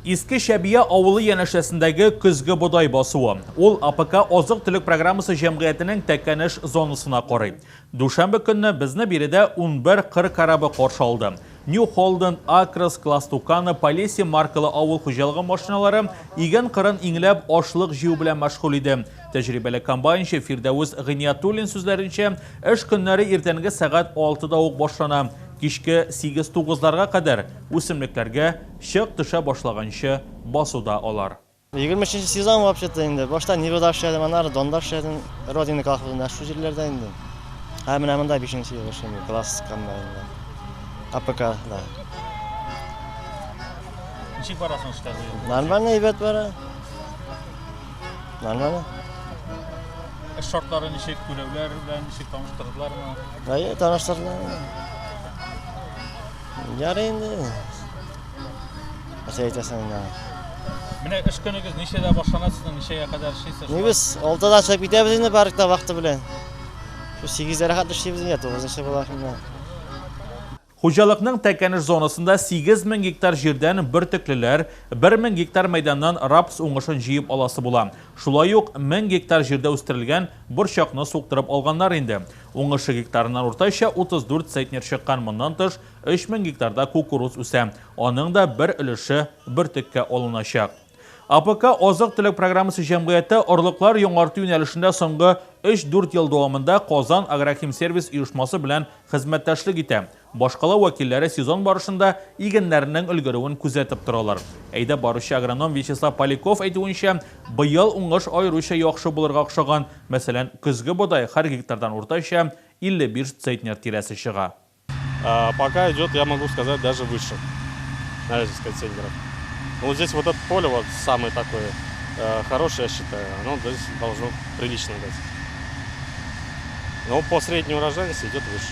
Иске Чәбия авылы янәшәсендәге көзге бодай басуы. Ул АПК азык-төлек программасы җәмгыятенең Тәкәнеш зонасына карый. Дүшәмбе көнне безне биредә унбер кыр корабы каршы алды. Нью Холден, Акрос, Кластукано, Полеси маркалы авыл хуҗалыгы машиналары иген кырын иңләп, ашлык җыю белән мәшгуль иде. Тәҗрибәле комбайнчы Фирдәвес Гыйниятуллин сүзләренчә, эш көннәре иртәнге сәгать алтыда ук башлана, кичке сигез-тугызларга кадәр Үсемлекләргә чык төшә башлаганчы басуда алар. Егерме өченче сезон вообще-то инде. Башта Нивада эшләдем, аннары Донда эшләдем. Родина колхозында, шул җирләрдә инде. Ә менә монда бишенче ел эшлим, класс комбайнда. АПКда. Ничек бара соң эшләр бу ел? Нормально әйбәт бара. Нормально. Эш шартлары ничек, күләүләр белән ничек таныштырдылармы? Әйе, таныштырдылар. Ярый инде. Нәрсә әйтәсең инде? Менә эш көнегез ничәдә башлана сезнең, ничәгә кадәр эшлисез? Ни без 6-да чыгып китәбез инде паркта вакыты белән. Шу 8-дә рәхәт эшлибез инде, 9-нчы була инде. Хуҗалыкның Тәкәнеш зонасында 8 мең гектар җирдән бөртеклеләр, 1 мең гектар мәйданнан рапс уңышын җыеп аласы була. Шулай ук 1000 гектар җирдә үстерелгән Борчакны суктырып алганнар инде. Уңышы гектарыннан уртача 34 центнер чыккан, моннан тыш, 3000 гектарда кукуруз үсә. Аның да бер өлеше бөртеккә алыначак. АПК азык-төлек программасы җәмгыяте орлыклар яңарту юнәлешендә соңгы өч-дүрт ел дәвамында Казан агрохимсервис оешмасы белән хезмәттәшлек итә. Башкала вәкилләре сезон барышында игеннәрнең өлгерүен күзәтеп торалар. Әйдәп баручы агроном Вячеслав Поляков әйтүенчә, быел уңыш аеруча яхшы булырга охшаган, мәсәлән, көзге бодай һәр гектардан уртача 55 центнер тирәсе чыга. Пока идет, я могу сказать, даже выше 55 центнеров. Ну, здесь вот это поле вот самое такое хорошее, я считаю, оно здесь должно прилично дать. Но по средней урожайности идет выше.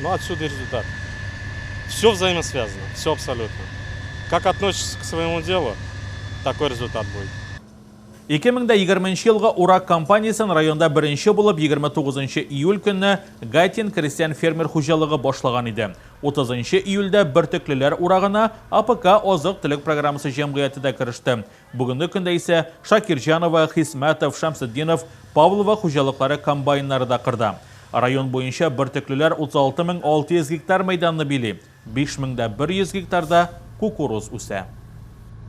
Ну отсюда и результат. Все взаимосвязано, все абсолютно. Как относишься к своему делу, такой результат будет. 2020 нче елгы урак кампаниясен районда беренче булып 29 нчы июль көнне Гайтин крестьян-фермер хуҗалыгы башлаган иде. 30 нчы июльдә Бөртеклеләр урагына АПК азык-төлек программасы җәмгыяте дә кереште. Бүгенге көндә исә Шакирҗанова, Хисмәтов, Шәмсетдинов, Павлова хуҗалыклары комбайннары да кырда. Район буенча бөртеклеләр 36 мең 600 гектар мәйданны били, 5 мең дә 100 гектарда кукуруз үсә.